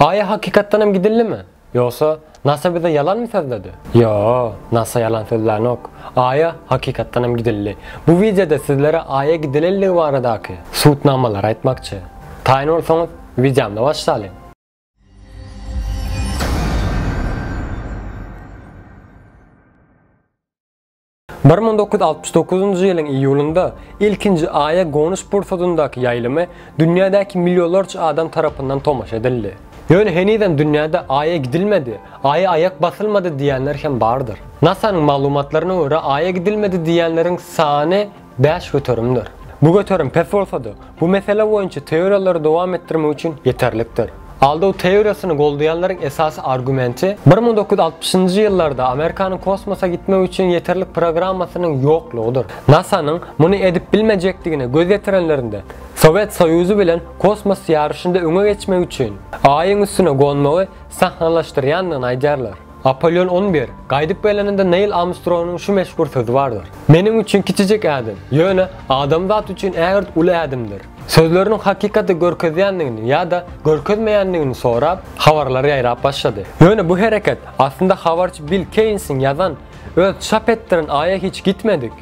Aýa hakykatdanam gidildimi? Ýogsa, nasa bize ýalanmy sözledi? Ýoo, nasa ýalan sözlänok. Aýa hakykatdanam gidildi. Bu wideoda sizlere Aýa gidilendigi baradaky subutnamalary aýtmakçy. Taýyn bolsaňyz, wideomda başlalyň. Bir müň dokuz ýüz altmyş dokuzynjy ýylyň iýulynda ilkinji Aýa gonuş pursadyndaky ýaýlymy dünýädäki millionlarça adam tarapyndan tomaşa edildi. Ýöne henizem dünýäde Aýa gidilmedi, Aýa aýak basylmady diýýänler hem bardyr. NASA-nyň maglumatlaryna görä Aýa gidilmedi diýýänleriň sany bäş göterimdir. Bu göterim pes bolsa-da, Bu mesele boýunça teoriýalary dowam etdirmek üçin ýeterlikdir. Aldaw teoriýasyny goldaýanlaryň esasy argumenti bir müň dokuz ýüz altmyşynjy ýyllarda Amerikanyň kosmosa gitmek üçin ýeterlik programmasynyň ýoklugydyr. NASA-nyň muny edip bilmejekdigine göz ýetirenlerinde, Sowet Soýuzy bilen kosmos ýaryşynda öňe geçmek üçin Aýyň üstüne gonmagy sahnalaşdyrýandygyny aýdýarlar. Apolýon on bir, gaýdyp geleninde Neýl Armstrongyň şu meşhur sözi bardyr. Meniň üçin kiçijik ädim, ýöne adamzat üçin ägirt uly ädimdir. Sözleriniň hakykaty görkezýändigini ýa-da görkezmeýändigini sorap, habarlar ýaýrap başlady. Ýöne bu hereket, aslynda habarçy Bill Keýnsiň ýazan, öz çap etdiren aýa hiç gitmedik.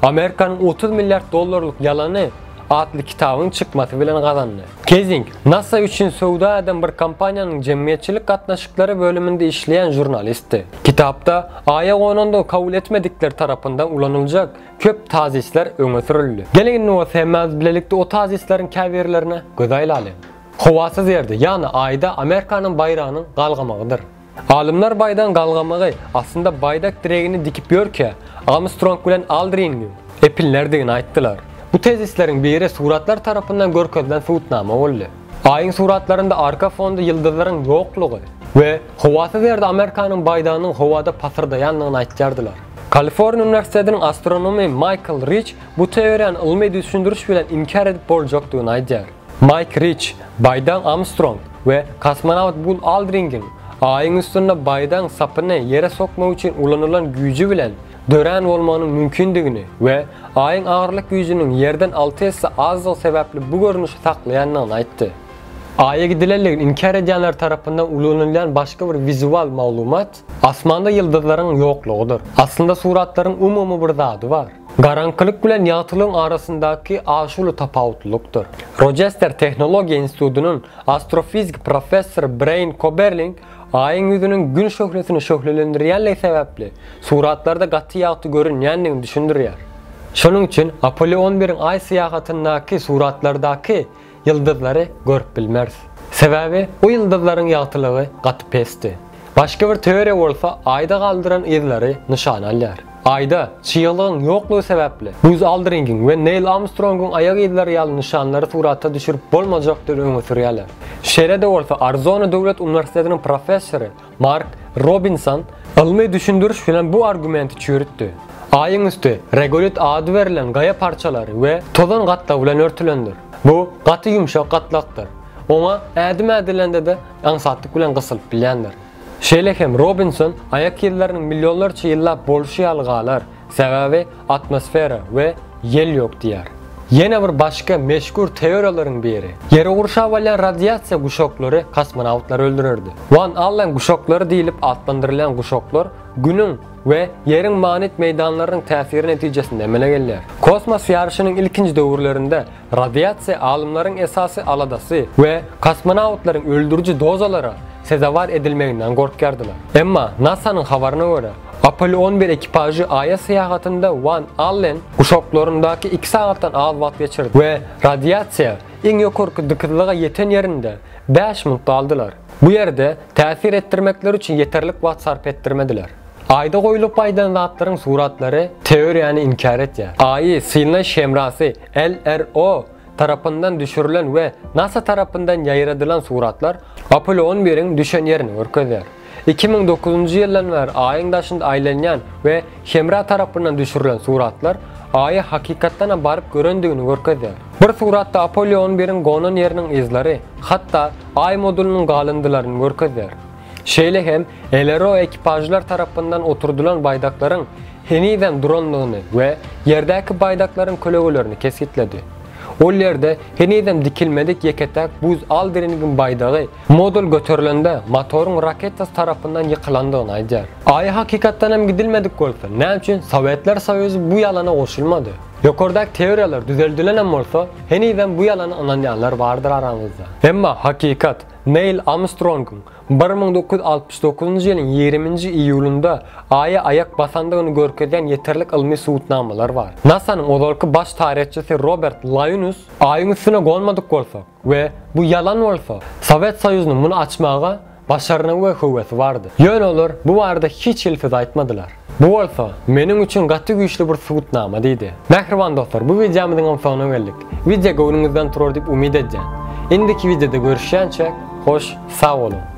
Amerikanyň otuz milliard dollarlyk ýalany atly kitabyň çykmasy bilen gazandy. Kezing, NASA üçin söwda eden bir kompaniýanyň jemgyýetçilik gatnaşyklary bölüminde işleýän žurnalistdi. Kitapda Aýa gonandygy kabul etmedikler tarapyndan ulanyljak köp tazisler öňe sürüldi. Geliň indi bolsa hemmämiz bilelikde o tazisleriň käbirlerine göz aýlalyň. Howasyz ýerde, ýagny Aýda Amerikanyň baýragynyň galgamagydyr. Alymlar baýdagyň galgamagy astynda baýdak diregini dikip ýörkä, Amstrong bilen Aldriniň epinlerdigini aýtdylar. Bu tezisleriň biri suratlar tarapyndan görkezilen subutnama boldy. Aýyň suratlarynda arka fonda ýyldyzlaryň ýoklugy we howasyz ýerde Amerikanyň baýdagynyň howada pasyrdaýandygyny aýtýardylar. Kaliforniýa uniwersitetiniň astronomy Maýkl Riç bu teoriýany ylmy düşündiriş bilen inkär edip boljakdygyny aýdýar. Maýk Riç, Baýdaň Armstrong we kosmonawt Bul Aldringiň Aýyň üstünde baýdagyň sapyny ýere sokmak üçin ulanylan güýji bilen dörän bolmagynyň mümkindigini we Aýyň agyrlyk güýjüniň Ýerden alty esse azdygy sebäpli bu görnüşi saklaýandygyny aýtdy. Aýa gidilendigi inkär edýänler tarapyndan ulanylýan başga bir wizual maglumat, Asmanda ýyldyzlaryň ýoklugydyr. Aslynda suratlaryň umumy bir zady bar. Garaňkylyk bilen ýagtylygyň arasyndaky aşuly tapawutlylykdyr. Roçester tehnologiýa institutynyň astrofiziki professory Breýn Koberling Aýyň ýüzüniň Gün şöhlesini şöhlelendirýänligi sebäpli suratlarda gaty ýagty görünýändigini düşündirýär. Şonuň üçin Apollo on biriň Aý syýahatyndaky suratlardaky Ýyldyzlary görüp bilmeris. Sebäbi bu ýyldyzlaryň ýagtylygy gaty pesdi. Başga bir teoriýa bolsa Aýda galdyran yzlary nyşan alýar. Aýda çyglygyň ýoklugy sebäpli Buz Aldringiň we Neýl Armstrongyň aýak yzlary ýaly nyşanlary surata düşürip bolmajakdygy öňe sürýärler. Şeýle-de bolsa Arizona döwlet uniwersitetiniň professory Mark Robinson ylmy düşündiriş bilen bu argumenti çüýrütdi. Aýyň üsti regolit ady berlen gaýa parçalary we tozan gatlagy bilen örtülendir. Bu gaty ýumşak gatlakdyr. Oňa ädim ädilende-de aňsatlyk bilen gysylyp bilýändir. Şeýle hem Robinson aýak yzlarynyň millionlarça ýyllap bolşy ýaly galar. Sebäbi atmosfera we ýel ýok diýýär. Ýene bir başga meşhur teoriýalaryň biri, Ýeri gurşap alýan radiasiýa guşaklary kosmonawtlary öldürerdi. Wan Allen guşaklary diýlip atlandyrylýan guşaklar Günüň we Ýeriň magnit meýdanlarynyň täsiri netijesinde emele gelýär. Kosmos ýaryşynyň ilkinji döwürlerinde Radiasiýa alymlaryň esasy aladasy we kosmonawtlaryň öldüriji dozalara sezewar edilmeginden gorkýardylar. Emma NASA-nyň habaryna görä, Apollo on bir ekipažy Aýa syýahatynda Wan Allen guşaklaryndaky iki sagatdan az wagt geçirdi we radiasiýa iň ýokarky dykyzlyga ýeten ýerinde bäş minut galdylar. Bu ýerde täsir etdirmekleri üçin ýeterlik wagt sarp etdirmediler. Aýda goýlup gaýdan zatlaryň suratlary teoriýany inkär edýär. Aýy synlaýyş hemrasy LRO tarapyndan düşürilen we nasa tarapyndan ýaýradylan suratlar Apollo on biriň düşen ýerini görkezýär. Iki müň dokuzynjy ýyldan bäri Aýyň daşynda aýlanýan we hemra tarapyndan düşürilen suratlar Aýy hakykatdanam baryp görendigini görkezýär. Bir suratda Apollo on biriň gonan ýeriniň yzlary hatda Aý modulynyň galyndylaryny görkezýär. Şeýle hem LRO ekipažlar tarapyndan oturdylan baýdaklaryň henizem durandygyny we ýerdäki baýdaklaryň kölegelerini kesgitledi. Ol ýerde henizem dikilmedik ýeke-täk buz Aldringiň baýdagy modul göterilende motoryň raketasy tarapyndan ýykylandygyny aýdýar. Aýa hakykatdan hem gidilmedik bolsa, näme üçin Sowetler Soýuzy bu ýalana goşulmady? Ýokardaky teoriýalar düzeldilen hem bolsa, henizem bu ýalana ynanýanlar bardyr araňyzda. Emma hakykat. Neýl Armstrongyň bir müň dokuz ýüz altmyş dokuzynjy ýylyň ýigriminji iýulynda Aýa aýak basandygyny görkezýän ýeterlik ylmy subutnamalar bar. NASA-nyň ozalky baş taryhçysy Robert Laýnus, Aýyň üstüne gonmadyk bolsak we bu ýalan bolsa, Sowet Soýuzynyň muny açmaga başarnygy we höwesi bardy. Ýöne olar bu barada hiç hili söz aýtmadylar. Bu bolsa, meniň üçin gaty güýçli bir subutnama diýdi. Mähriban dostlar bu wideomyzyňam soňuna geldik. Wideo göwnüňizden turar diýip umyt edýän. Indiki wideoda görüşýänçäk, hoş, sag boluň!